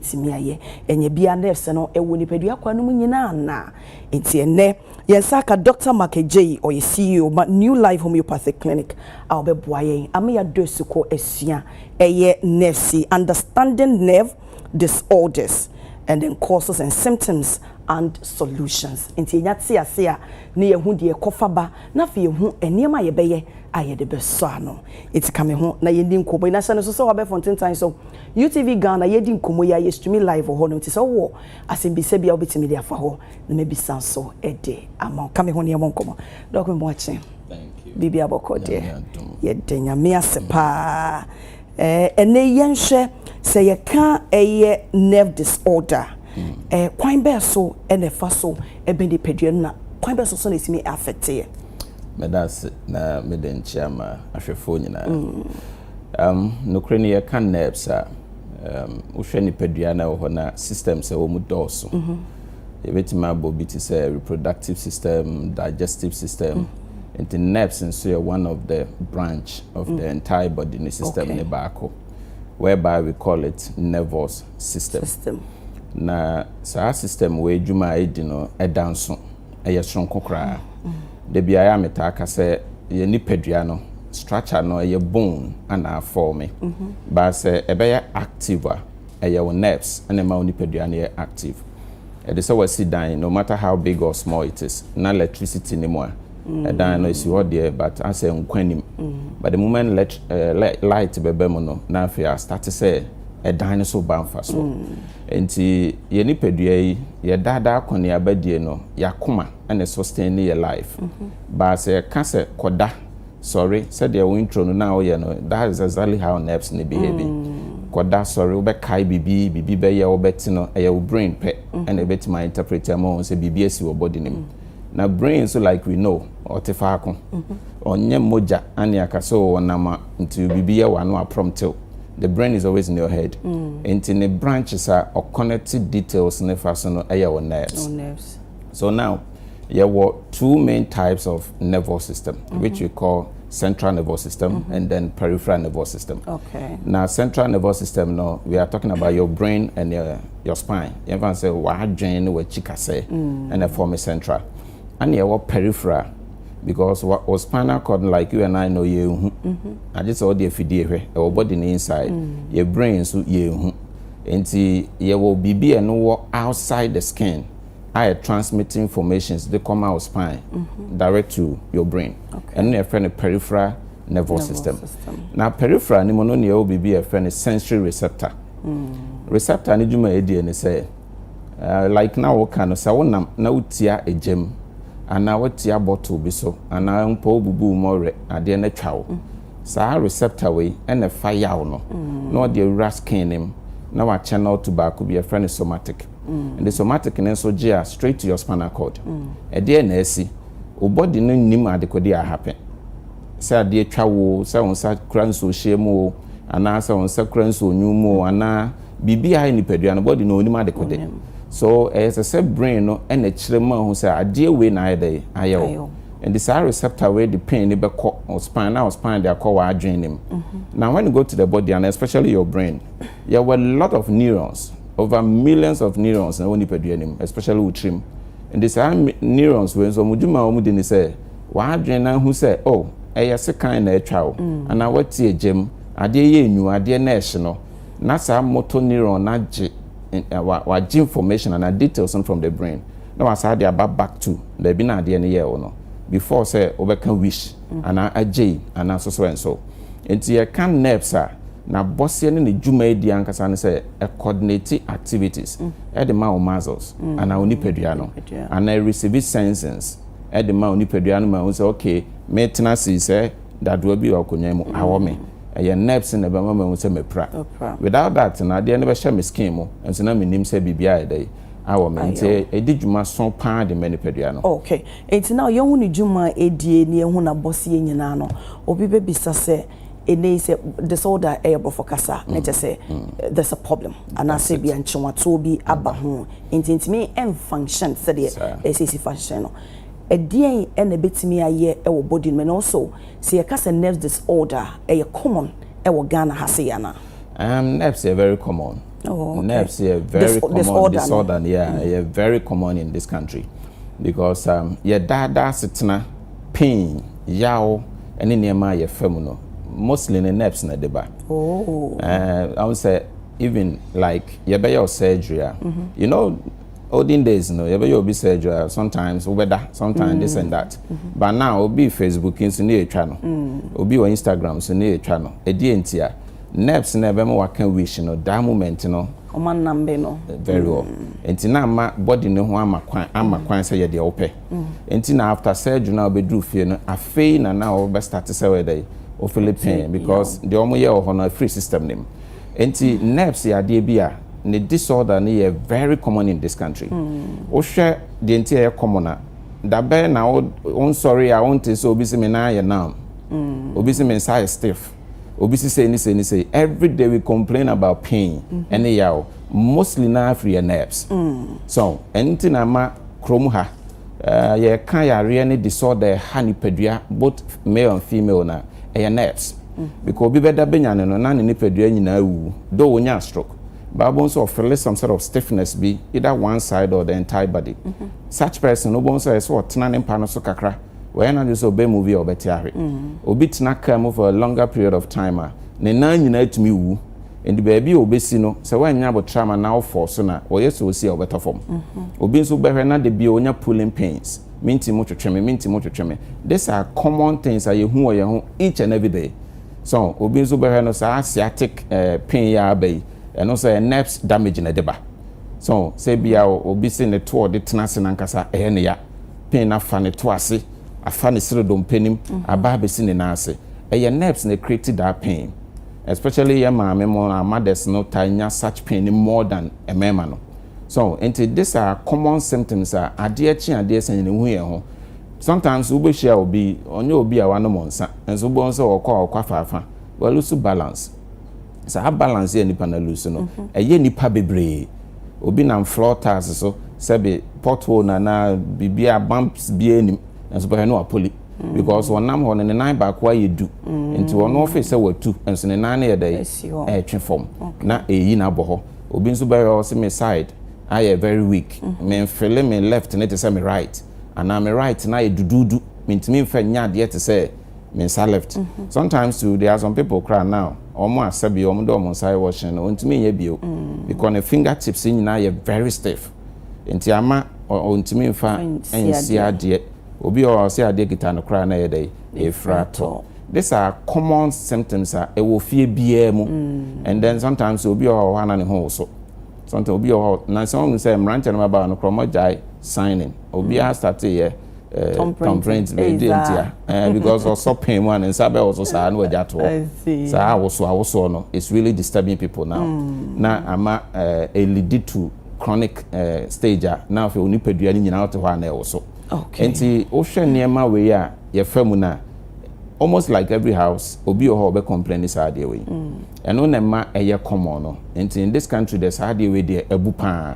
tumi ayɛ. Ɛnyɛ bia nurse no wɔ nipadua kwan no mu nyinaa anaa? Enti ɛnnɛ yɛn nsa aka Dɔkta Mark Adjei, ɔyɛ CEO ma New Life Homeopathic Clinic a ɔbɛboa yɛn ama yɛadɔ asu kɔ asua ɛyɛ nɛɛsi, Understanding Nerve Disorders and then Causes and Symptoms and Solutions. Enti yɛnya te ase a na yɛahu deɛ ɛkɔfa ba na afei yɛhu nneɛma a yɛbɛyɛ a yɛde bɛsɔ ano. Enti ka me ho na yɛndi nkɔmmɔ yi na hyɛ no nso sɛ wabɛfo ntentan so. UTV Ghana yɛredi nkɔmmɔ yi a yɛstreami live wɔ hɔ no nti sɛ wowɔ asɛmbisa bi a wobɛtumi de afa hɔ na mabisa nso de ama wo. Ka me ho ne yɛmmɔ nkɔmmɔ. Doc Memoakye, biribiara bɔkɔ deɛ? Yɛda Nyame ase paa. Ɛnnɛ yi yɛnhwɛ sɛ yɛka ɛyɛ nerve disorder a, kwan bɛɛ so na ɛfa so bɛ nipadua no na kwan bɛɛ so nso na ɛtumi affect yɛ? Meda ase na mede nkyea ma ahwɛfoɔ nyinaa. Um, nokorɛ no yɛka nerves a, um, wohwɛ nipadua na ɛwɔ hɔ na systems ɛwɔ mu dɔɔso. Mm -hmm. Yɛbɛtumi abɔ bi te sɛ reproductive system, digestive system. Mm -hmm. Nti nerves nso yɛ one of the branch of mm -hmm. the entire body ne system okay. ne baako. Whereby we call it nervous system. system. Na saa system wɔ adwuma a ɛdi no ɛda nso. ɛyɛ soronko koraa. Da biara a metaa ka sɛ yɛn nipadua no structure no ɛyɛ bone ana afɔme. Ba sɛ ɛbɛyɛ active a ɛyɛ wo nerves ɛna ɛma wo nipadua no yɛ active. Ɛde sɛ wasi dan no matter how big or small it is na electricity ne mu a ɛdan no ɛsi hɔ deɛ but asɛ nkwa nim. But the moment let, uh, light bɛba mu no na afei a start sɛ ɛdan no so ba mfasoɔ. Enti yɛ nipadua yi, yɛ daa daa akɔneaba die no, yɛ akoma ne sustain ne yɛ life. But sɛ yɛ ka sɛ kɔda, sɔre, sɛdeɛ wo intro no na wo yɛ no, that is exactly how nerves no behaving. Kɔda, sɔre, wo bɛ kae bibi, bibi bɛ yɛ wo, wo bɛ te no, ɛyɛ wo brain pɛ ɛna ɛbɛtumi a interpret ama wo sɛ bibi asi wɔ body no mu. Na brain nso like we know, ɔte faako. Ɔnyɛ mogya ane aka sɛ oh ɔnam a nti bibi yɛ wo a na wa prompt wo. the brain is always in your head nti ne branches a ɔconnect details ne fa so no ɛyɛ wɔ nerves so now yɛwɔ two main types of nervous system mm -hmm. which we call central nervous system mm -hmm. and then peripheral nervous system okay. na central nervous system no we are talking about your brain and your, your spine yɛmfa sɛ w'adwen ne w'akyi kasɛ ɛna mm. form central An yɛ wɔ peripheral because wa wo spinal cord no like you and I no yɛ nhu na gye sɛ ɔde afidie hwɛ ɛwɔ body no inside yɛ brain nso yɛ nhu nti yɛ wɔ biribi a ɛno wɔ outside the skin a yɛ transmit informations de kɔma wo spine direct to your brain ɛno na yɛfrɛ no peripheral nervous system na peripheral no mu no na yɛwɔ biribi a yɛfrɛ no sensory receptor receptor no dwuma a ɛdie ne sɛ like na woka no sɛ wonam na wotia egya mu anaa wotia bottle bi so anaa mpo wobubu wo mɔwerɛ adeɛ no atwa wo saa receptor wei ɛna ɛfa yaw no na ɔde awura skin no mu na wakyɛnɛl to baako bi ɛfrɛ no somatic ɛde somatic no nso gye a straight to your spinal cord ɛdeɛ na asi wo body no nim adekode a happen sɛ adeɛ twa wo sɛ wo nsa kura nsuo hyɛ mu o anaa sɛ wo nsa kura nsuo nyu mu o anaa Biribi a ayɛ nipadua no body no ɔnim adekode so ɛyɛ sɛ sɛ brain no na ɛkyerɛ ma ɔhu sɛ adeɛ wei na ayɛ dɛn ayɛ wo nti saa receptor wei de pain no bɛkɔ wo spine na wo spine de akɔ w'adwene no mu na when you go to the body and especially your brain yɛwɔ a lot of neurons over millions of neurons na ɛwɔ nipadua no mu especially wo tirim nti saa neurons wei nso wɔn dwuma a wɔn di ne sɛ w'adwene no ahu sɛ oh ɛyɛ sekan na atwa wo anaa wati agyam adeɛ yɛ enyu adeɛ na ɛhye no na saa motor neuron no agye wagye information anaa details no from the brain na wasaa de aba back to baabi na adeɛ no yɛɛ wo no before sɛ wobɛka wish anaa agyei anaa so so and so nti yɛka nerves a n'abɔseɛ ne ne dwumadie ankasa no sɛ coordinate activities de ma wo muscles anaa wo nipadua no anaa receive sensings de ma wo nipadua no ma wo sɛ okay metena sei sɛ dadoa bi wɔ akonnwa mu awɔ me. Ɛyɛ nerves na ɛbɛma mahu sɛ mapira. Without that no, adeɛ no bɛhyɛ me skin mu, nso na mennim sɛ biribi ayɛ dɛn awɔ me. Nti ɛdi dwuma sõ paa de ma nipadua no. Ok, nti na yɛhu ne dwuma a ɛdie ne yɛhu n'abɔseɛ nyinaa no, obi bɛbisa sɛ, ɛnnɛ yi sɛ disorder yɛ borɔfo kasa a, na kyerɛ sɛ there's a problem, anaasɛ bia nkyewatoɔ bi aba ho, nti ɛntumi nfunction sɛdeɛ ɛsɛ sɛ ɛsi function no. Ɛdeɛn na ɛbɛtumi ayɛ wɔ body no mu? Ɛno nso sɛ yɛka sɛ nerves disorder a, ɛyɛ common wɔ Ghana ha sei anaa? Ahem, nerves yɛ very common. Oh, okay. Nerves yɛ very common disorder, disorder no, yeah, ɛyɛ mm. very common in this country because um, yɛdaadaa asetena pain yaw ne nneɛma a yɛfa mu no mostly ne nerves na ɛde ba. Oh. Uh, I would say even like yɛbɛyɛ surgery a, mm -hmm. you know olden days no yɛbɛyɛ obi surgery a sometimes wobɛda sometimes mm. this and that mm -hmm. but now obi facebook nso ne yɛtwa no mm. obi wɔ instagram so ne yɛtwa no ɛdeɛ nti a nerves na ɛbɛma waka wish no that moment no ɔma nnambe no very well mm. nti na ama body no ho ama kwan ama mm. kwan sɛ yɛ deɛ wopɛ mm. nti na after surgery na wobɛduru fie no afei na na wɔbɛstarte sɛ wɔyɛ dɛ wo philippine because deɛ wɔyɛ wɔ hɔ no afiri system no mu Nti nerves yɛ adeɛ bi a ne disorder no yɛ very common in this country. Wohwɛ deɛ nti a ɛyɛ common a, dabɛn na wo wonsɔre a wonte sɛ obi se me nan ayɛ numb, obi se me nsa ayɛ stiff, obi se sei ne sei ne sei. Everyday we complain about pain ɛne yaw. Mostly no ara firi yɛ nerves. So ahu? Ɛno nti na ama kurom ha yɛka yareɛ ne disorder a ɛha nipadua both male and female no a, Ɛyɛ nurse. Because obi bɛda bɛnyane no na ne nipadua nyinaa awuwu. Though ɔnyaa stroke. Bible nso ɔfeele some sort of stiffness bi either one side or the entire body. Such person no wobɛhu sɛ ɛyɛ sɛ ɔtena ne mpa no so kakra. Wayɛ n'adwene sɛ ɔbɛ move a ɔbɛte ahwe. Obi tena car mu for a longer period of time a, ne nan nyinaa tumi wuwu. Nti baabi a ɔbɛsi no, sɛ woannya abotrama na wo fall so no a, wɔyɛ sɛ ɔsi a ɔbɛtɔ fam. Obi nso wobɛhwɛ na da biara ɔnya pulling pains. Me nti motwetwe me, me nti motwetwe me. These are common things a yɛhu wɔ yɛn ho each and every day. So obi nso bɛhwɛ no saa sciatic eh, pain yi aba yi, ɛno nso ɛyɛ nerves damage na ɛde ba. So sɛ bia obi se ne toɔ de tena ase nankasa ɛyɛ ne ya, pain no afa ne to ase, afa ne sere dompe nim, mhm. aba abɛsi ne nan ase. Ɛyɛ nerves na create that pain. Especially yɛ maame mo, our mothers no taa nya such pain more than mmarima no. So nti this are common symptoms a adeɛ kye adeɛ sɛ yɛn ehu yɛn ho sometimes wo bɛ hyia obi ɔnyɛ obi a wanom nsa nso bɔn sɛ ɔkɔ a ɔkɔ afaafa walusu balance saa balance yɛ nipa na lusu no mhm. ɛyɛ nipa bebree obi nam floor tiles so sɛbi pothole na na biribi a bumps bi anim nso bɛhwɛ no apoli mm. because ɔnam hɔ no ne nan baako ayɛ du mm. nti ɔno ɔfɛ sɛ watu nso ne nan no yɛ dɛ ɛtwe fam na ɛyi na abɔ hɔ obi nso bɛhwɛ hɔ se me side ayɛ very weak me nfele me left ne te sɛ me right anaa me right no ayɛ duduudu mentumi mfa nya adeɛ te sɛ me nsa left mhm. sometimes too there are some people kora now wɔn asɛ bi wɔn de wɔn nsa yɛ wɔhyɛn no wɔntumi nyɛ bio mm. because ne finger tips nyinaa yɛ very stiff nti ama wɔntumi mfa nsi adeɛ obi a ɔsɛ adeɛ kita no koraa na ɛyɛ dɛ efira tɔ. These are common symptoms a ɛwɔ fie biara mu mm. and then sometimes obi wɔ hɔ a na ne ho woso sometimes obi wɔ hɔ na sɛ wɔn sɛ mmeranteɛ no bɛba no korɔ wɔn gyae signing obiara mm. start yɛ eh, thumbprint bɛɛ di ntia eh, because ɔsɔ pain mu a ne nsa bɛwɔ so saa na wɔgya toɔ saa awoso awosoɔ no it's really disturbing people now mm. na ama eh, elidi to chronic stage a na afei onipadua no nyinaa ɔte hɔ a na ɛwɔ so nti wohwɛ nneɛma wei a yɛfa mu no a almost like every house obi wɔ hɔ ɔbɛ complain ne saa adeɛ wei ɛno na ɛma ɛyɛ common no nti in this country deɛ saa adeɛ wei deɛ abu paa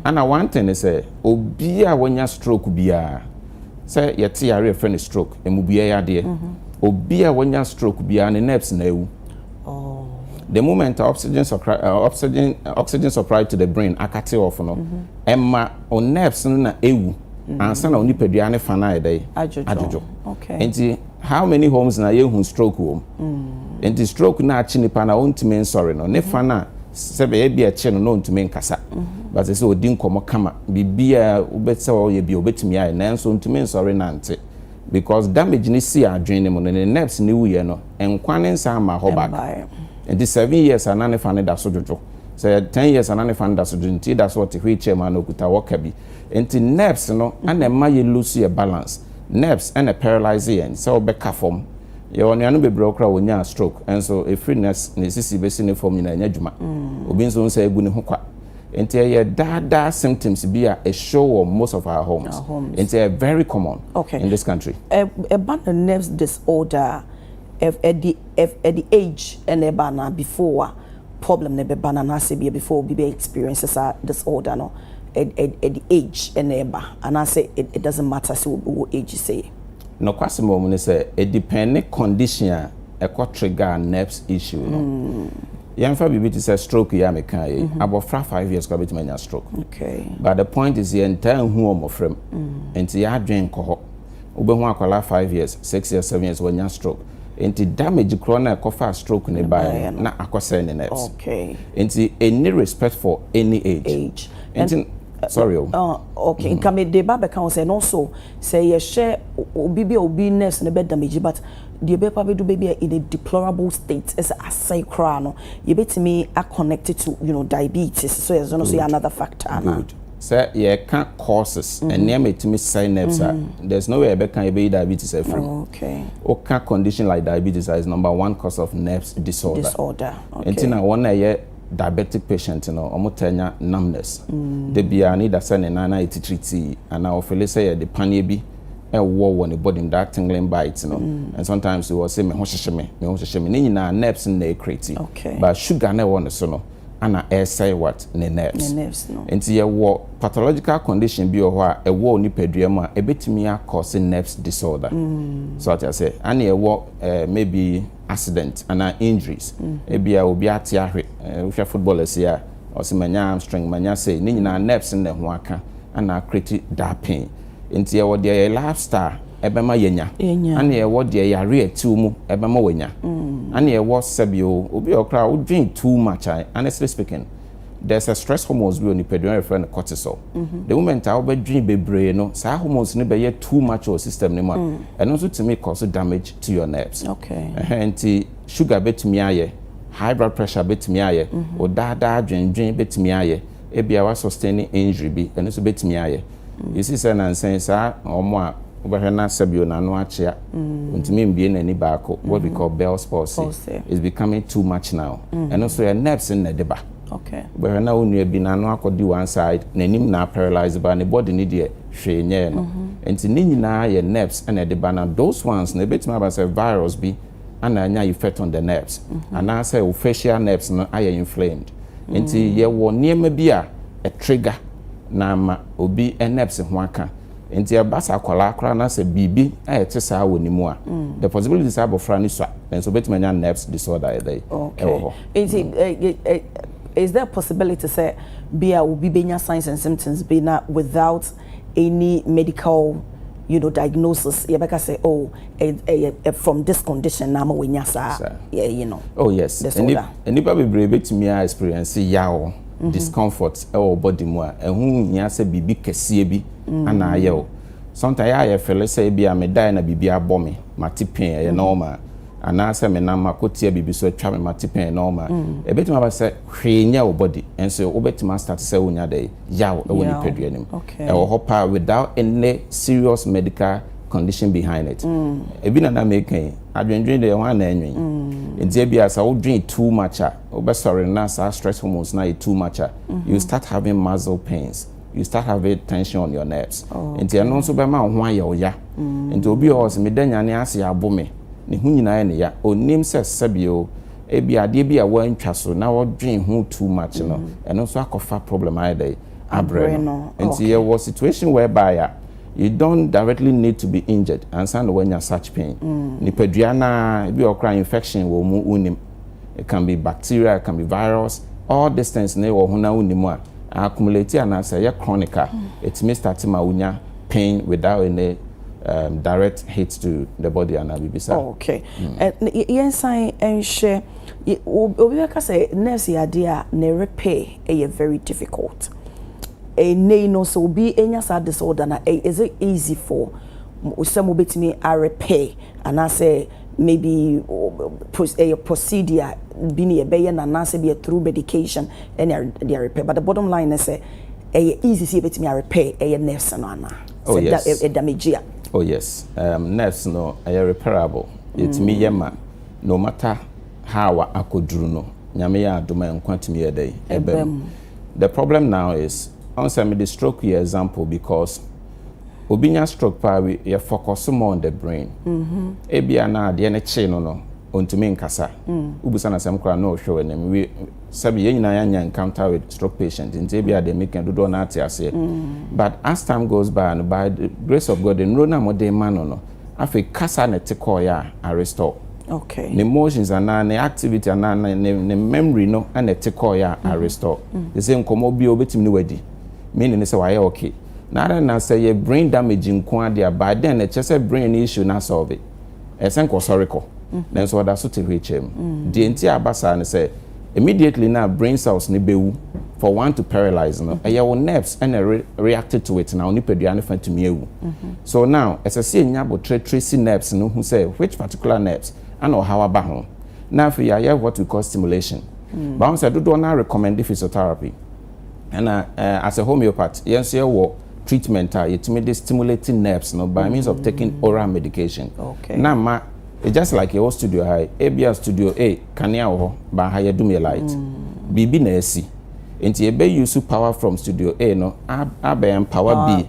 ana one thing ne sɛ obi a wanya stroke biara sɛ yɛte yare yɛfrɛ no stroke mmubua yɛ adeɛ mhm. obi a wanya stroke biara ne nerves na awu oh. the moment oxygen supply uh, oxygen uh, oxygen supply to the brain akate off no ɛma mm -hmm. o nerves no na ewu ansa na onipadua ne fa no ayɛ dɛ adwodwo nti how many homes na yɛhu stroke wɔ mu mm. nti stroke no akye nipa na ɔntumi nsɔre no ne fa no a sɛ bɛyɛ bi ɛkye no na ɔntumi nkasa mm-hmm. bɛsɛ sɛ ɔdi nkɔmmɔ kama biribiaa wobɛsɛ ɔyɛ bi ɔbɛtumi ayɛ nanso ɔntumi nsɔre nante because damage ne si adwene no mu no ne nerves ne wuyɛ no nkwa ne nsa ama hɔ back nti seven years ana ne fa no da so dwodwo sɛ ten years ana ne fa no da so dwodwo nti da so ɔte wheelchair mu ana ɔkuta wɔka bi Nti nerves no na ɛma yɛ loose yɛ balance. Nerves na paralyse yɛn sɛ wobɛka fam. Yɛwɔ anuanom bebree a wɔkura a wɔnyaa stroke nso ɛfiri nerves ne sisi bɛsi ne fam nyinaa ɛnyɛ adwuma. Obi nso wohu sɛ agu ne ho kwa. Nti ɛyɛ daa daa symptoms bi a it show wɔ most of our homes. Nti ɛyɛ very common in this country. Ɛba no nerves disorder a If at the if at the age ɛna ɛba anaa before a problem no bɛba no anaasɛ bia before obi bɛ experience saa disorder no at at at the age ɛna ɛba anaasɛ it it doesn't matter sɛ obi wɔ age sei. Nokwasɛm wɔ mu ne sɛ, edepɛnne condition a ɛkɔ trigger nerves issue no. Yɛmfa biribi te sɛ stroke yi a mekaeɛ yi, abɔfra five years koraa bɛtumi anya stroke. But the point is yɛntaa nhu wɔ mmɔfra mu, enti yɛn adwene nkɔ hɔ. Wobɛhu akwadaa five years, six years, seven years wanya stroke. Nti damage korɔ no a ɛkɔfaa stroke no baeɛ no na akɔsɛe ne nerves. Nti ɛnni respect for any age. Nti sorry o. Ah, okay. Nka me de ba bɛka ho sɛ no so sɛ yɛhyɛ obi bi a obi nerves no bɛ damage but deɛ ɛbɛkɔ abɛdu baabi a in a deplorable state ɛsɛ asɛe koraa no yɛbɛtumi a connect to you know diabetes so ɛno nso yɛ another factor anaa? Sɛ yɛka causes, nneɛma a ɛtumi sɛe nerves a, there's no way a yɛbɛka a yɛbɛyi diabetes afiri mu. Woka condition like diabetes a, it's number one cause of nerves disorder. Nti na wɔn a ɛyɛ diabetic patient no, wɔtaa nya numbness. Da biara no, either sɛ ne nan no ayɛ titiri tii, anaa ɔfeele sɛ yɛde paneɛ bi ɛwɔ wɔ ne body mu, that tingling bite no. And sometimes ɔse, me ho hyehye me, me ho hyehye me. Ne nyinaa nerves no na ɛcreate. But sugar no a ɛwɔ ne so no, ana ɛresɛe what? Ne nerves. Nti yɛwɔ pathological condition bi wɔ hɔ a ɛwɔ wo nipadua mu a ɛbɛtumi akɔ se nerves disorder. So ate aseɛ? Ana ɛwɔ eh, maybe accident ana injuries. Ebi a obi ate ahwe, eh, wohwɛ footballers yi a, ɔse manya armstring, manya sei. Ne nyinaa nerves na ɛho aka ana create that pain. Enti yɛwɔ deɛ yɛ lifestyle ɛbɛma yɛnya, ɛne yɛwɔ deɛ yareɛ tiw mu ɛbɛma wanya, ɛne mm. yɛwɔ sɛbi o obi wɔ koraa wodwen too much a honestly speaking there's a stress hormones bi wɔ nipadua yɛfrɛ no cortisol mm-hmm. the moment a wobɛdwen bebree no saa hormones no bɛyɛ too much wɔ system no mu a mm. ɛno nso tumi cause damage to your nerves nti sugar bɛtumi ayɛ high blood pressure bɛtumi ayɛ mm-hmm. o daadaa dwendwen bɛtumi ayɛ ebia wa sustain injury bi ɛno nso bɛtumi ayɛ Esi sɛ nnansa yi saa wɔn a wobɛhwɛ na sɛbio n'ano akyea, ontumi mbue n'ani baako, what we call Bell's palsy, is becoming too much now. Ɛno nso yɛ nerves no na ɛde ba. Wobɛhwɛ na wo nua bi n'ano akɔdi one side, n'anim na aparalyse ba, ne body no deɛ hwee nyɛɛ no. Nti ne nyinaa yɛ nerves na ɛde ba na those ones no ebetumi aba sɛ virus bi na anya effect on the nerves anaasɛ wo facial nerves no ayɛ inflamed nti yɛwɔ nneɛma bi a ɛtrigger na ama obi nerves ho aka nti ɛba sɛ akwadaa koraa na sɛ biribi a ɛte saa wɔ ne mu a mm. the possibility sɛ abɔfra no sua nanso obetumi anya nerves disorder ɛda yi ɛwɔ hɔ. nti mm. eh, eh, eh, is there a possibility sɛ bi a obi benya signs and symptoms bi na without any medical you know diagnosis yɛbɛka sɛ oh ɛyɛ from this condition na ama wanya saa yeah, you know oh yes nnipa bebree bɛtumi a experience yaw mm-hmm. discomfort ɛwɔ body mu a ɛho hia sɛ biribi kɛseɛ bi mm-hmm. ana ayɛ o sometimes yɛ a yɛfɛle sɛ ebi a medae na biribi abɔ me mate pɛn ɛyɛ mm-hmm. normal anaasɛ menam akotia biribi so atwa me mate pɛn ɛyɛ normal ɛbɛtumi aba sɛ hwee nyɛ wo body ɛnso wobɛtumi astart sɛ wonya dɛ yaw wɔ nipadua no mu. Ɛwɔ hɔ paa without any serious medical condition behind it. Ebi na na meka yi, adwendwen deɛ hwan na ɛnwen? Nti ebia sɛ wodwen too much a, wobɛsɔre no na saa stress hormones no ayɛ too much a, you start having muscle pains, you start having tension on your nerves. Nti ɛno nso bɛma wo ho ayɛ wo ya. Nti obi wɔ hɔ sɛ meda nyane ase abo me, ne ho nyinaa yɛ ne ya. Ɔnnim sɛ sɛbio, Ebia adeɛ bi a woantwa so na wodwen ho too much no, ɛno nso akɔfa problem ayɛ dɛn? Abrɛ no. Nti yɛwɔ situation whereby a you don't directly need to be injured ansa na woanya such pain. Nipadua no ara, ebi wɔ hɔ koraa a infection wɔ mu wonnim. It can be bacteria, it can be virus, all these things no wɔ ho na wonnim a, accumulate anaa sɛ ɛyɛ chronic a, ɛtumi start ma wonya pain without any direct hit to the body anaa biribi saa. Okay. Yɛnsan nhwɛ, obi bɛka sɛ nurse yɛ adeɛ a ne repɛ yɛ very difficult. Ɛnnɛ yi no sɛ obi nya saa disorder no a, is it easy for sɛ mobɛtumi arepɛ anaasɛ maybe ɛyɛ procedure bi na yɛbɛyɛ no anaasɛ ɛyɛ through medication na yɛde arepɛ but the bottom line ne sɛ ɛyɛ easy sɛ yɛbɛtumi arepɛ ɛyɛ nurse no anaa? Oh yes. Sɛ da ɛdamegye a. Oh yes. Um, nerves no ɛyɛ repairable. Yɛtumi yɛ ma no matter how a akɔduru no. Nyame yɛ adom a nkwa tumi yɛ dɛn? Ɛba mu. The problem now is, ɔn sɛ mede stroke yɛ example because obi nya stroke paa wi yɛ focus more on the brain. Mm-hmm. Ebia na adeɛ no kyee no no ɔntumi nkasa. Mm. Wobisa no asɛm koraa na ɔhwɛ w'anim. sɛbi yɛn nyinaa yɛanya encounter with stroke patient nti ebia deɛ meka dodoɔ no ate aseɛ but as time goes by no by the grace of God nnuro no a mode ma no no afei kasa na ɛte kɔɔeɛ a I restore okay. ne emotions anaa ne activity anaa ne, ne, ne memory no ɛna ɛte kɔɔeɛ a I restore te sɛ nkɔmmɔ bi a obɛtumi ne wadi meaning ne sɛ wayɛ okay na ara na sɛ yɛ brain damage nko adeɛ a by then ɛkyɛ sɛ brain no issue no asɔlve Ɛsɛnk ɔsɔre kɔ, nanso ɔda so te hɔ akyiri mu. Deɛ enti a aba saa ne sɛ, immediately no a brain cells no bɛwu for one to paralyse no, ɛyɛ wo nerves na ɛre react to it, na wo nipadua no fa tumi awu. So now, ɛsɛ sɛ yɛnya aboterɛ trace nerves no hu sɛ which particular nerves na ɔhaw aba ho, na afei yɛayɛ what we call stimulation. But woahu sɛ dodoɔ no ara recommend physiotherapy. Ɛna as a homeopath yɛn nso yɛwɔ treatment a yɛtumi de stimulate nerves no by means of taking oral medication na ma it's just like yɛwɔ studio ha yi ebia studio a kanea wɔ hɔ baa ha yɛdum yɛ light biribi na ɛsi nti yɛbɛ use power from studio a no abɛ empower b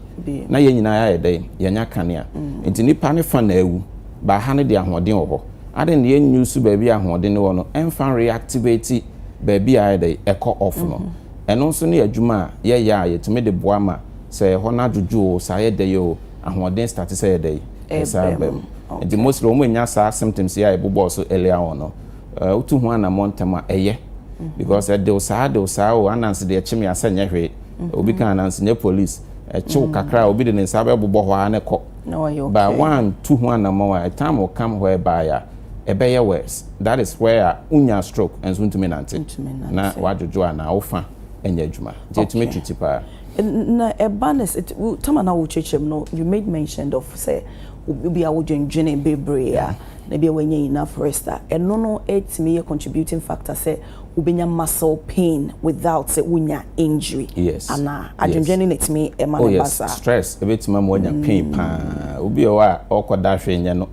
na yɛn nyinaa yɛ dɛ yɛnya kanea nti nipa ne fa na awu baa ha no de ahoɔden wɔ hɔ adan yɛn use baabi ahoɔden wɔ no ɛmfa reactivate baabi a ayɛ dɛ ɛkɔ off no. Ɛno nso ne adwuma a yɛyɛ a yɛtumi de boa ma sɛ ɛhɔ no adwodwo o, sɛ ayɛ dɛ yi o, ahoɔden starte sɛ ɛyɛ dɛn? Ɛsan aba mu. Nti mostly wɔn a wɔnya saa symptoms yi a yɛbobɔɔ so earlier on no, wotu ho anammɔn ntɛm a, ɛyɛ. Because ɛdew saa, ɛdew saa o, ananse deɛ ɛkye me a sɛ ɛnyɛ hwee. Obi ka ananse nyɛ police. Ɛkye wo kakra a, obi de ne nsa bɛbobɔ hɔ ara na ɛkɔ. na ɔyɛ okay. But wantu ho anamɔn a, a time will come whereby a ɛbɛyɛ worse. That is where a wonya stroke nso wontumi nante. Na wadwodwo anaa wo fa nyɛ adwuma. Nti ɛtumi twe ti paa. Na ɛba no sɛ, tam a na wokyerɛkyerɛ mu no, you made mention of sɛ obi a wodwendwene bebree a na bi a wanya enough rest a, ɛno no ɛtumi yɛ contributing factor sɛ wobɛnya muscle pain without sɛ wonya injury anaa? Adwendwene no na ɛtumi ma no ba saa? Oh yes, stress ɛbɛtumi ama wanya pain paa. Obi wɔ hɔ a ɔrekɔda hwee nyɛ no,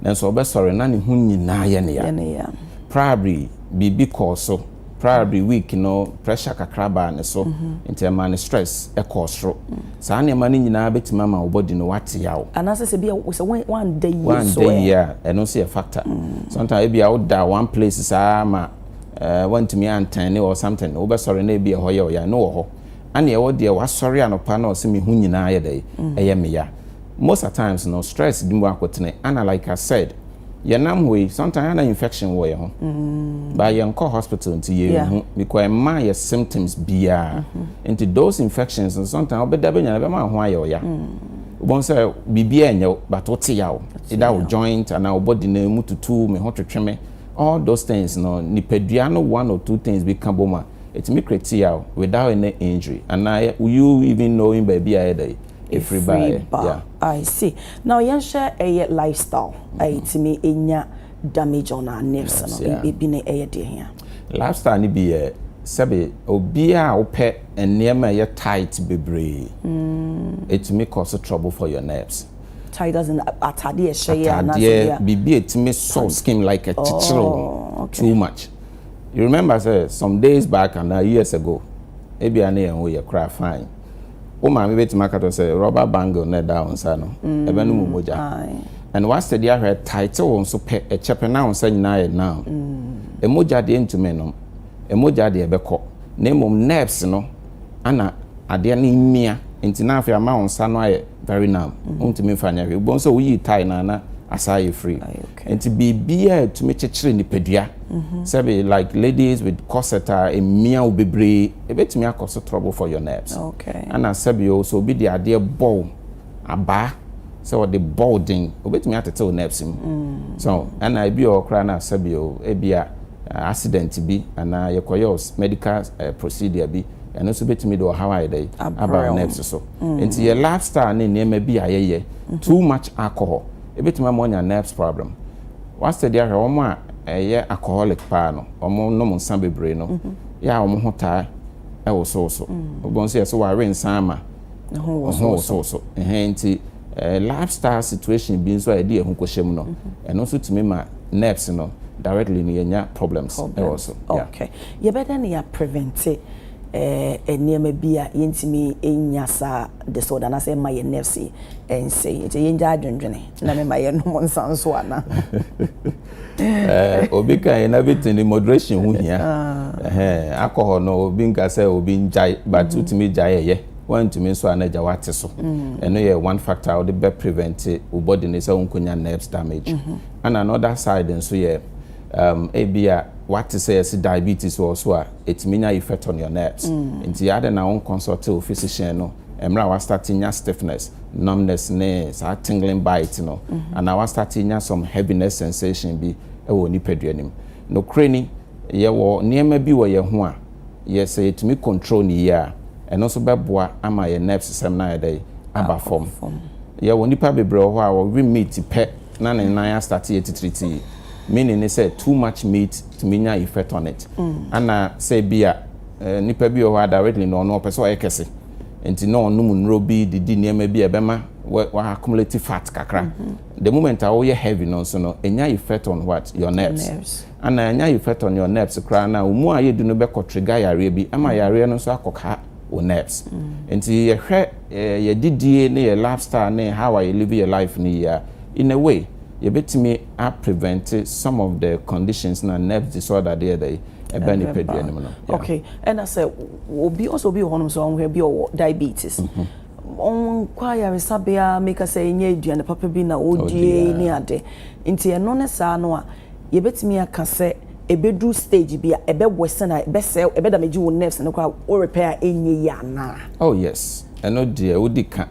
nanso ɔbɛsɔre na ne ho nyinaa yɛ no ya. Probably biribi kɔɔ so, probably week no pressure kakra baa ne so nti ɛmaa ne stress kɔɔ soro. Saa nneɛma no nyinaa bɛtumi ama wo body no wate yaw. Anaasɛ sɛ bia sɛ woanda yie nso ɛ? Woanda yie a, ɛno nso yɛ factor. Sometimes ebia woda one place saa ma woantumi an tan or something, wobɛsɔre na ebia ɛhɔ yɛ wo ya, ɛno wɔ hɔ. Ɛne ɛwɔ deɛ wasɔre anɔpa na ɔse me ho nyinaa ayɛ dɛn? Ɛyɛ me ya. Most a times no stress bi mu akotene, ɛna like I said, yɛnam hɔ yi sometimes ana infection wɔ yɛn ho mm. ba yɛnkɔ hospital nti yɛnhu because ɛma yɛ symptoms biara mm-hmm. nti those infections no sometimes wobɛda bɛnya no bɛma ho ayɛ ɔya mm. wobɛhu sɛ biribiara ɛnyɛ but wote yaw ɛda wo joint anaa wo body no mu tutu me ho twetwe me all those things no nipadua no one or two things bi ka bom a ɛtumi kreti yaw without any injury anaa you even knowing baabi a ɛda yi ɛfiri baeɛ yeah. I see now yɛn hwɛ ɛyɛ lifestyle a mm-hmm. ɛtumi ɛnya damage on our nerves no ebi ne ɛyɛ deɛ hia. lifestyle no bi yɛ sɛbi obiara a wopɛ nneɛma ɛyɛ tight bebree ɛtumi mm. cause trouble for your nerves. tight as in atadeɛ ɛhyɛ yɛ anaasɛ bia biribi ɛtumi sɔ skin like ɛkyekyere oh, too much you remember sɛ some days back and years ago ebi a ne yɛn ho yɛ kora fine. Wo maame bɛtumi aka to sɛ rɔba bangle na ɛda wo nsa no, ɛbɛnom wo mogya. And woasɛdi ahwɛ ɛtaete wo nso pɛ, ɛkyɛpɛ na wo nsa nyinaa yɛ numb. Mogya deɛ ɛntumi nnom, mogya deɛ ɛbɛkɔ na mmom nerves no na adeɛ no mmia nti na afei ama wo nsa no ayɛ very numb. Wontumi mfa nyɛ hwee. Wobɛhu sɛ woyii tie no a na asan ayɛ free. Nti biribiaa ɛtumi kyekyere nipadua sɛbe like ladies with corset a ɛmia wo bebree ɛbɛtumi akɔ so trouble for your nerves ɛna sɛbe o sɛ obi de adeɛ bɔ wo abaa sɛ ɔde bɔ wo den ɔbɛtumi atete wo nerves mu so ɛna ebi wɔ hɔ koraa na sɛbe o ebia accident bi anaa yɛkɔ yɛ medical procedure bi ɛno nso bɛtumi de ɔhaw ayɛ dɛn aba wo nerves so nti yɛ lifestyle ne nneɛma bi a yɛyɛ too much alcohol ebetumi ama wanya nerves problem. Wa study ahwɛ wɔn a ɛyɛ alcoholic paa no, wɔn nom nsa bebree no, yɛ a wɔn ho taa ɛwosowoso. Wɔbɛn nso yɛ so wawe nsa ama ne ho wosowoso. Ɛhɛn nti eh, lifestyle situation bi nso a yɛde yɛn ho kɔhyɛ mu no, ɛno nso tumi ma nerves no directly no yɛnya problems ɛwɔ so. Okay, yɛbɛdɛn na yɛ prevent nneɛma bi a yɛntumi nnya saa disorder no anaasɛ ɛmma yɛn nerves nsɛe. Nti yɛngyae adwendwene na mema yɛnnom nsa nso ana? Obi ka yɛn na bɛtumi de moderation ho hia. Ah. Alcohol no obi nka sɛ obi ngyae but mm. wotumi gyae ɛyɛ. Woantumi nso a na agya wate so. Mm. Ɛno yɛ one factor a wode bɛ prevent wo body no sɛ wonkonya nerves damage. Mm-hmm. And another side nso yɛ um, ebi a wate sɛ yɛse diabetes wɔ so a etumi nya effect on your nerves. Nti adɛn na wo nconsult wo physician no mmerɛ a wa start nya stiffness, numbness ne saa tingling bite no anaa wa start nya some heaviness sensation bi wɔ wo nipadua no mu. Nokorɛ ni, yɛwɔ nneɛma bi wɔ yɛn ho a yɛ sɛ yɛtumi control no yie a ɛno nso bɛboa ama yɛn nerves sɛm no ayɛ dɛn? Aba fam. Yɛwɔ nnipa bebree wɔ hɔ a wɔwe meat pɛ. na ne nan astate yɛ titiritii meaning ne sɛ too much meat tumi nya effect on it ana sɛ bi a eh, nipa bi wɔ hɔ a directly na ɔno ɔpɛ sɛ ɔyɛ kɛse nti na ɔnom nnuro bi de di nneɛma bi a ɛbɛma wa accumulate fat kakra mm-hmm. the moment a woyɛ heavy no nso no ɛnya effect on what your nerves Ana anya Yefeto ne Oneps koraa na wɔn mu a yɛ du no bɛkɔ trigger yareɛ bi ɛma yareɛ no nso akɔ ka Oneps. Nti yɛ hwɛ yɛ didie ne yɛ life style ne how a yɛ live yɛ life no yie a, in a way yɛ bɛtumi a prevente some of the conditions na nerves disorder de yɛ dɛ ɛba nipadua no mu no. Yeah. Okay, ɛna sɛ obi ɔsɛ obi wɔ hɔ nom sɛ ɔnhwɛ bi ɔwɔ diabetes. Mm -hmm. ɔnkɔ ayaresabea meka sɛ ɛnyɛ aduane papa bi na ɔdie ne ade nti ɛno ne saa no a yɛbɛtumi aka sɛ ɛbɛduru stage bi a ɛbɛ worsen a ɛbɛsɛe ɛbɛ damage wo nerves no koraa wo repair a ɛnyɛ yie anaa? Oh yes, ɛno deɛ wodi ka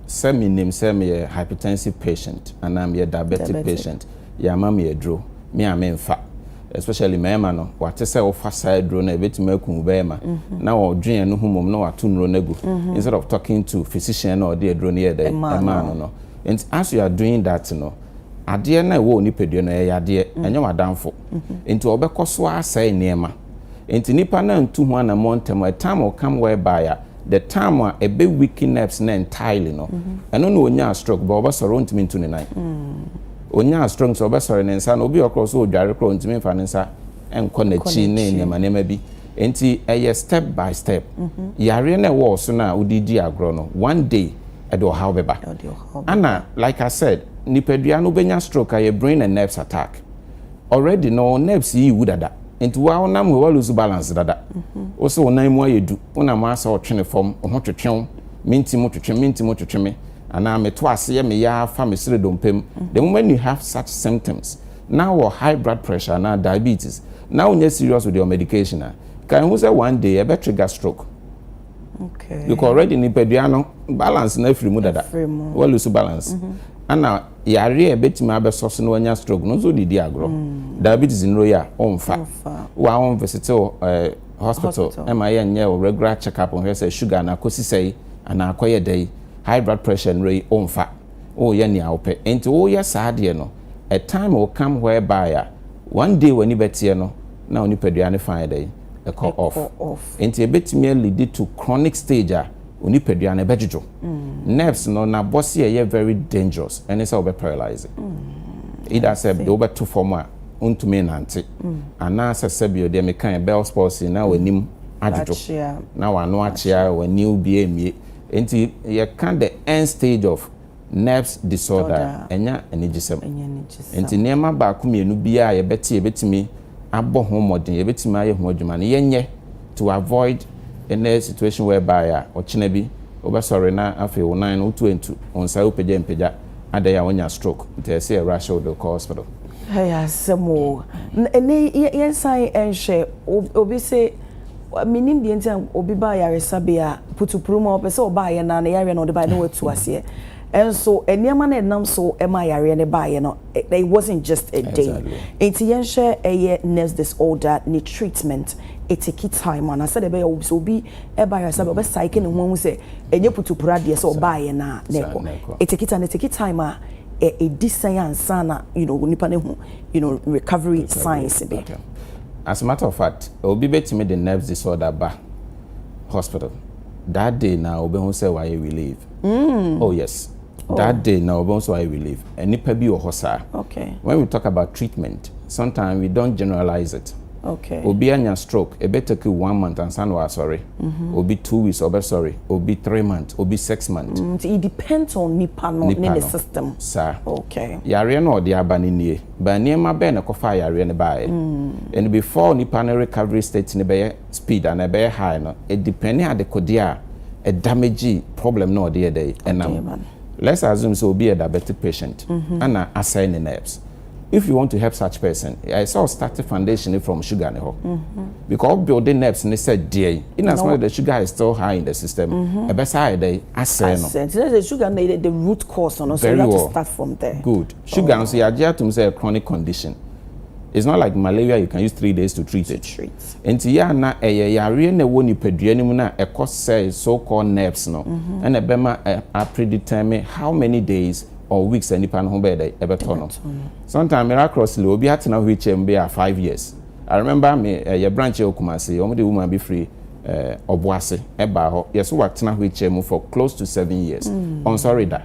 sɛ menim sɛ meyɛ hypertensive patient anaa meyɛ diabetic patient yɛama me aduro me a memfa especially mmarima no wate sɛ wofa saa aduro no a ɛbɛtumi aku wo barima na ɔdwen ɛno ho mmom na wato nnuro no agu instead of talking to physician na ɔde aduro no yɛ dɛn ɛmaa no no nti as you are doing that no adeɛ no a ɛwɔ wo nipadua no ɛyɛ yadeɛ, mm. ɛnyɛ w'adamfo nti ɔbɛkɔ so asɛe nneɛma nti nipa no antu ho anammɔ ntɛm a time will come whereby a the time a ɛbɛ weaken nerves no entirely no mm-hmm. ɛno na ɔnyaa stroke bɛ ɔbɛsɔre ɔntumi ntu ne nan ɔnyaa mm. stroke sɛ ɔbɛsɔre ne nsa na obi ɔkorɔ so ɔdware korɔ ɔntumi mfa ne nsa nkɔ n'akyi ne nneɛma nneɛma bi nti ɛyɛ step by step mm-hmm. yareɛ no ɛwɔ ɔso no a wode di agorɔ no one day ɛde ɔhaw bɛba Ana like I said nipadua no wobɛnya stroke ayɛ brain and nerves attack already no wo nerves yi wu dada nti woa wonam hɔ woaloose balance dada wo se wo nan mu ayɛ du wonam hɔ asɛ ɔtwene fam wo ho twetwe wo menti mo twetwe menti mo twetwe me anaa meto aseɛ me yaa fa me sere dompe mu the moment you have such symptoms na wɔ high blood pressure anaa diabetes na wonyɛ serious with your medication a kan hu sɛ one day ɛbɛ trigger stroke. okay because already nipadua no balance na afiri mu dada wa lose balance mm -hmm. ana yare a betumi abɛsɔ so na wanya stroke no nso didi agorɔ mm. diabetes nuro yi a ɔnfa wa ɔn visit uh, eh, hospital ɛma yɛ nyɛ o regular check up ɔhwɛ sɛ sugar na akɔsi sɛ yi anaa akɔyɛ dɛ yi high blood pressure nuro yi ɔnfa ɔyɛ nea ɔpɛ nti ɔyɛ saa adeɛ no a time will come whereby a one day w'ani bɛteɛ no na onipadua no fa yɛ dɛ yi. kɔ off. Enti ebetumi a leadi to chronic stage a onipadua no bɛdwodwo. Nerves no n'abɔseɛ yɛ very dangerous, ɛne sɛ wobɛ paralyse. Either sɛ de wobɛto fam a wontumi nnante anaasɛ sɛdeɛ deɛ mekaeɛ Bell's palsy na w'anim adwodwo na w'ano akyea, w'ani wobue mmue. Enti yɛka the end stage of. Nerves disorder a, ɛnyɛ anigyesɛm. Enti nneɛma baako mmienu bi a yɛbɛte a yɛbɛtumi abɔ ho mmɔden, yɛbɛtumi ayɛ ho adwuma no, yɛnyɛ to avoid any situation whereby a ɔkyena bi wobɛsɔre na afei wo nan no wotu antu, wo nsa wopagya ampagya, adɛn a woanya stroke, nti ɛsɛ sɛ yɛ rush wo de wo kɔ hospital. Ɛyɛ asɛm o. Ɛnnɛ yi yɛnsan nhwɛ obi se. Mennim deɛ nti a obi ba ayaresabea a, putupuru mu a ɔpɛ sɛ ɔba ayɛ no a, ne yareɛ na ɔde baeɛ na watu aseɛ. Nso nneɛma no ɛnam so ma ayareɛ no baeɛ no, it wasn't just a day. Exactly. Nti yɛnhwɛ ɛyɛ nurse disorder ne treatment, ɛteki time ana sɛdeɛ ɛbɛyɛ a sɛ obi ba ayaresabea a, ɔbɛsaeke ne ho ahu sɛ ɛnyɛ putupuru adeɛ sɛ ɔbaeɛ no a na ɛkɔ. Ɛteki time, ɛteki time a ɛdi sɛn ansa na you know, nipa no ahu you know, recovery signs bi? As a matter of fact, obi betumi de nerves disorder ba hospital, that day na obehu sɛ wayɛ relieve. Oh yes, oh. that day na obehu sɛ wayɛ relieve. Nnipa bi wɔ hɔ saa. Okay. When we talk about treatment, sometimes we don't generalize it. Okay. Obi anya stroke, ebe take you one month ansa na wasɔre. Mm -hmm. Obi two weeks ɔbɛsɔre, obi three months, obi six months. Mm, it depends on nipa no ne ne system. Saa. Okay. Yareɛ no ɔde aba no nie. But nneɛma bɛn na ɛkɔfaa yareɛ no baeɛ? And before nipa no recovery state no bɛyɛ speed anaa ɛbɛyɛ high no, it depend adekodeɛ a ɛdamage problem no a ɔde yɛ dɛ ɛnam. Let's assume sɛ obi yɛ diabetic patient ɛna asɛe ne nerves. If you want to help such person, ɛyɛ sɛ wo start foundation no from sugar no hɔ. Because wo build nerves no sɛ deɛ yi, in as much as the sugar is still high in the system, ɛbɛsan ayɛ dɛ asɛe no. Asɛe, nti na sɛ sugar no yɛ the root cause no, so you have to start from there. Very well, good. Sugar nso yɛagye atom sɛ ɛyɛ chronic condition. It's not like malaria you can use three days to treat it. Enti yɛ a na ɛyɛ yareɛ na ɛwɔ nipadua no mu no a ɛkɔ sɛe so called nerves no ɛna ɛbɛma a predetermine how many days or weeks a nipa no ho bɛyɛ dɛn ɛbɛtɔ no. Sometimes miraculously obi atena wheel chair mu bɛyɛ a five years. I remember me yɛ branch wɔ Kumasi wɔn de woman bi firi Ɔboase ɛbaa hɔ yɛso watena wheel chair mu for close to seven years ɔnsɔre da.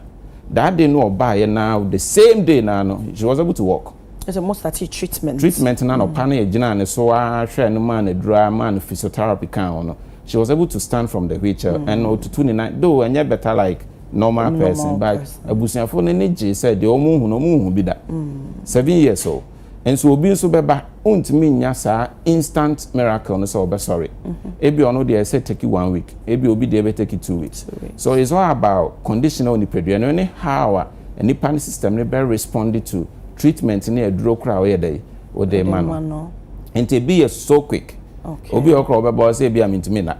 That day no ɔbaeɛ no ara the same day no ara no she was able to walk. Kyerɛ sɛ mo startee treatment. Treatment no anɔpa no yɛgyinaa ne so ara hwɛɛ no maa no aduru ara maa no physiotherapy kaa ho no she was able to stand from the wheelchair and ɔtutu ne nan though ɛnyɛ better like normal person but abusuafoɔ no ani gyee sɛ deɛ wɔhu no wɔnhu bi da. Seven years o. Nso obi nso bɛba, ontumi nnya saa instant miracle no sɛ ɔbɛsɔre. Ebi ɔno deɛ ɛsɛ take one week, ebi obi deɛ ɛbɛ take two weeks. So it's all about condition a onipadua no ne how a nipa ne system no bɛ respond to treatment ne aduro koraa a ɔyɛ dɛ yi ɔde ma no. Nti ebi yɛ so quick. Obi ɔkora ɔbɛba ɔsɛ ebi a mintumi na.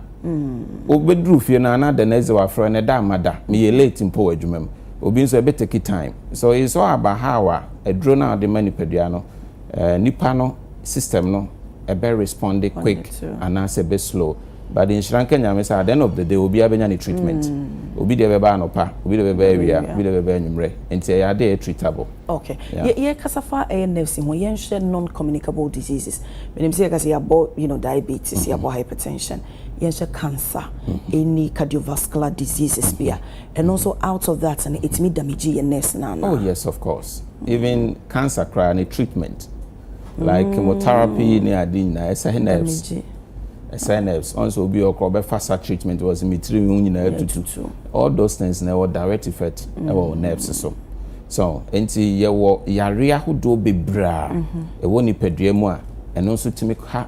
Wobɛduru fie no a na dɛn ɛsɛ wafrɛ no ɛda ama da, meyɛ late mpo wɔ adwuma mu. Obi nso ɛbɛ take time. So it's all about how a aduro no a wode ma nipadua no, nipa no system no ɛbɛ respond quick anaasɛ ɛbɛ slow. But nhyira nka Nyame sɛ at the end of the day obiara bɛnya ne treatment. Obi deɛ ɛbɛba anɔpa, obi deɛ ɛbɛba awia, obi deɛ ɛbɛba anwummerɛ. Nti ɛyɛ adeɛ a ɛyɛ treatable. Ok, yɛ yɛ kasa fa ɛyɛ nerves ho, yɛn hwɛ non communicable diseases. Menim sɛ yɛ kasa yɛ abɔ, you know, diabetes, yɛ abɔ hypertension, yɛn hwɛ cancer, mm-hmm. any cardiovascular diseases bi a, ɛno nso out of that no, ɛtumi damage yɛ nerves na. Oh yes, of course. Even cancer koraa ne treatment. like chemotherapy ne ade nyinaa ɛsɛ he nerves ɛsɛ he nerves ɔn sɛ obi ɔkɔ ɔbɛfa sa treatment wɔ sɛ me tiri ho nyinaa tutu all those things na ɛwɔ direct effect ɛwɔ mm. nerves so so nti yɛwɔ yare ahodoɔ bebree a mm-hmm. ɛwɔ nipadua mu a ɛno nso tumi ha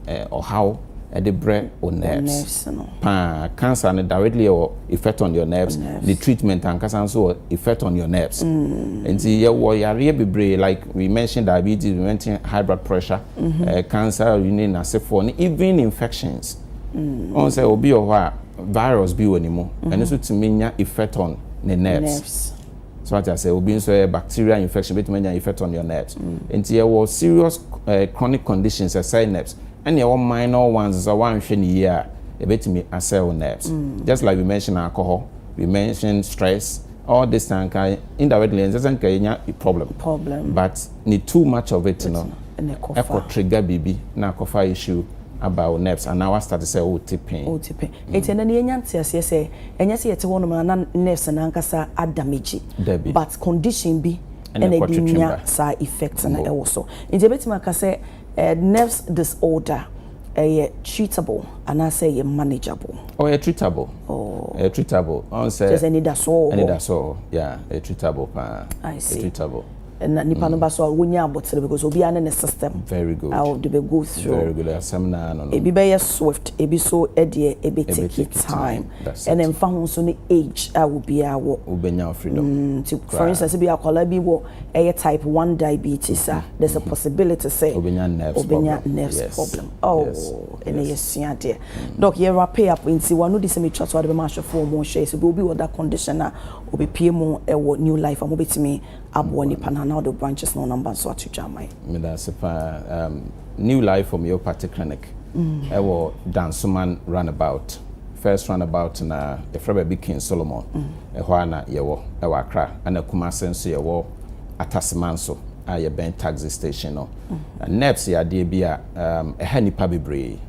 ɔhaw de brɛ wo nerves paa. Cancer no directly yɛ wɔ effect on your nerves. The treatment ankasa nso wɔ effect on your nerves. Nti yɛ wɔ yareɛ bebree like we mention diabetes, we mention high blood pressure, mm-hmm. cancer ne n'asefoɔ ne even infections. Ɔn sɛ obi wɔ hɔ a virus bi wɔ ne mu, ɛno nso tumi nya effect on ne nerves. So wate aseɛ? Obi nso ɛyɛ bacterial infection, obetumi anya effect on your nerves. Nti yɛwɔ serious eh, chronic conditions ɛsɛe nerves. Ɛne ɛwɔ minor ones nso a wanhwɛ no yie a, ebetumi asɛe wo nerves. Just like we mention alcohol, we mention stress, all this na nka indirectly ɛnsɛ sɛ nka yɛnya problem. Problem. But ne too much of it no, Ɛna ɛkɔ fa. ɛkɔ trigger biribi na akɔfa issue aba wo nerves anaa wastarte sɛ wote pain. Wote pain. Enti ɛnnɛ no yɛanya nteaseɛ sɛ ɛnyɛ sɛ yɛte hɔnom a na nurse no ankasa ada megye Dabi. but condition bi Ɛna na ɛkɔ ɛde twetwe nya ba. saa effect no Bo. wɔ so. Nti yɛbɛtumi aka sɛ eh, nerves disorder ɛyɛ treatable anaasɛ ɛyɛ manageable? Oh, ɛyɛ treatable. Oh. Ɛyɛ treatable. Ɔn sɛ. Kyerɛ sɛ anidasoɔ wɔ hɔ. Anidasoɔ wɔ hɔ. Yeah, ɛyɛ treatable paa. I Ɛyɛ see. treatable. na nipa no ba so a wonya abotere because obiara ne ne system a ɔde bɛ go through. Ebi bɛyɛ swift, ebi nso deɛ ɛbɛ take time. Ɛna ɛmfa ho nso ne age a obiara wɔ. Nti for instance ebia akwadaa bi wɔ ɛyɛ type one diabetes a, there's a possibility sɛ ɔbɛnya nerves problem. Oh, ɛnna yɛsua adeɛ. Doc, yɛ wrap up nti w'ano di sɛ metwa so a wode bɛma ahwɛfoɔ a wɔrehwɛ yɛ sɛ deɛ obi wɔ that condition a ɔbɛpue mu wɔ New Life a wɔbɛtumi aboa nipa no anaa ɔde wo branches na ɔnumber nso ato dwa ama yɛn. Meda ase paa. Um, New Life Homeopathy Clinic ɛwɔ mm. Dansoman Runabout. First runabout na yɛfrɛ baabi King Solomon. Mm. Ɛhɔ a na yɛwɔ ɛwɔ Accra. Ɛna Kumase nso yɛwɔ Ataseman so a yɛbɛn taxi station no. Mm. Nerves yɛ adeɛ bi a um, ɛha nipa bebree.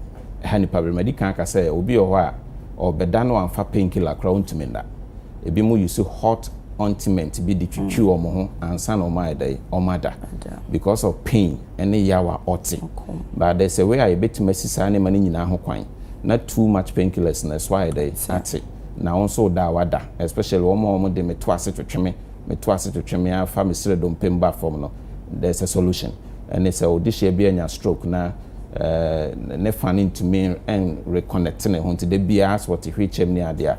Ɛha nipa bebree. Madi kan aka sɛ obi wɔ hɔ a ɔbɛda no amfa painkiller koraa ɔntumi nna. ebinom use hot ointment bi de twitwi wɔn ho ansa na wɔayɛ dɛn, wɔada because of pain ne yaw a ɔte but there's a way a yɛbɛtumi asi saa nneɛma no nyinaa ho kwan na too much painkillers na ɛso ayɛ dɛn ate na wo nso da a wada especially wɔn a wɔde me to ase twetwe me me to ase twetwe me afa me srɛ dompe mu ba fam no there's a solution ɛne sɛ ɔdehyia bi anya stroke na ne fa no ntumi reconnect ne ho nti da biara sɛ ɔte hwekyɛm ne adeɛ a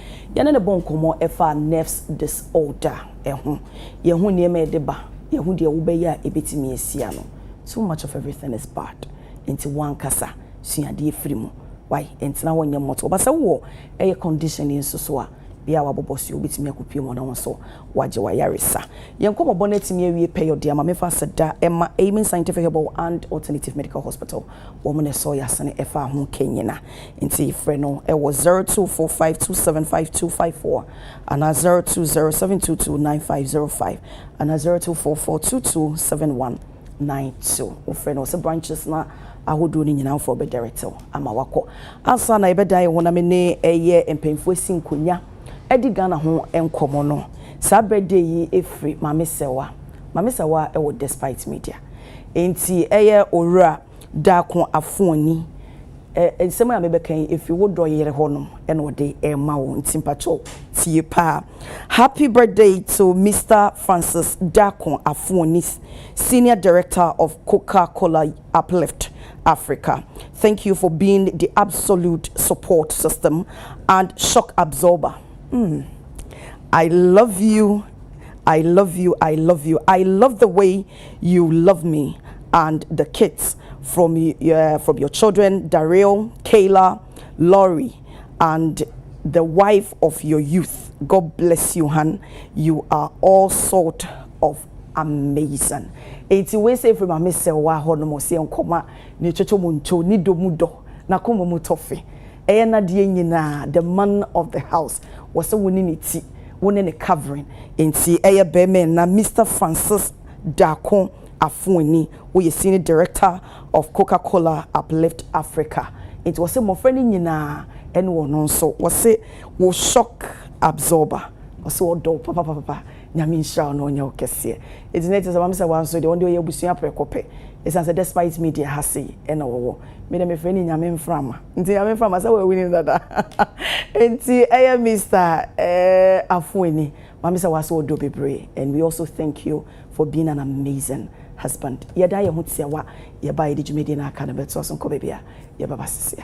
Yɛne no bɔ nkɔmmɔ fa nerves disorder ho. Yɛhu nneɛma a ɛde ba, yɛhu deɛ wobɛyɛ a ɛbɛtumi asi ano. Too much of everything is bad. Nti wo ankasa sua adeɛ firi mu. Wai, ntena hɔ nyɛ mɔto. Ɔba sɛ wowɔ ɛyɛ condition yi nso so a, bia a wabobɔ so yi, wobɛtumi akɔ pue mu na wo nso wagye w'ayaresa. Yɛn nkɔmmɔbɔ no atumi awie pɛyɛ ɔde ama me fa aseda ma Amen Scientific Herbal and Alternative Medical Hospital. wɔn na ɛsɔɔ Yasene ɛfaa ho Kanyina. Nti frɛ no wɔ 0245275254 anaa 0207229505 anaa 0244227192. Wo frɛ no wɔ sɛ branches no ahodoɔ no nyinaa foɔ bɛ direct wo ama wakɔ. Ansa na yɛbɛda yɛn ho na me ne ɛyɛ mpanyinfoɔ asi nkonya ɛdi Ghana ho nkɔmɔ no, saa birthday yi ɛfiri Maame Sɛwa. Mame Sawa wɔ Despite Media. Enti ɛyɛ Owura Daako Afoani. Nsɛm a mebɛka yi efi wo dɔ yere hɔ nom na ɔde rema wo nti mpakyɛw tie paa. Happy birthday to Mister Francis Daako Afoani Senior Director of Coca Cola Uplift Africa. Thank you for being the absolute support system and shock absorber. Mm. I love you. I love you I love you I love the way you love me and the kids from uh, from your children Daryl Kayla Laurie and the wife of your youth God bless you hun you are all sort of amazing enti wei sɛ ɛfiri maame sɛ wɔ ahɔ nom ɔsɛ nkɔma ne kyɛkyɛ mu nto ne dɔ mu dɔ na kɔma mu tɔfe ɛyɛ nadeɛ nyinaa the man of the house wɔ sɛ wo ne ne ti Wo ne no covering nti ɛyɛ bɛɛma ɛna Mister Francis Darko Afuani woyɛ senior director of Coca Cola uplift Africa nti wɔse mmɔfra no nyinaa ɛne ɔno nso wɔse wo shock absorber wɔse ɔdɔ wo papapapapa Nyame nhyira wo na ɔnyɛ wo kɛseɛ. Eti na ɛte sɛ wɔn sɛ wɔn nso deɛ wɔn deɛ wɔyɛ abusua prɛko pɛ ɛsiane sɛ despite me deɛ ha sei ɛna wɔwɔ. Me deɛ mefrɛ no Nyame mframa. Nti Nyame mframa sɛ wɔawini no dada. Nti ɛyɛ Mister eh Afueni Maame sɛ wɔase ɔdɔ bebree and we also thank you for being an amazing husband. Yɛda yɛn ho tiawa yɛba a yɛde dwumadie no aka no bɛtoa so nkɔ baabi a yɛbɛba seseɛ.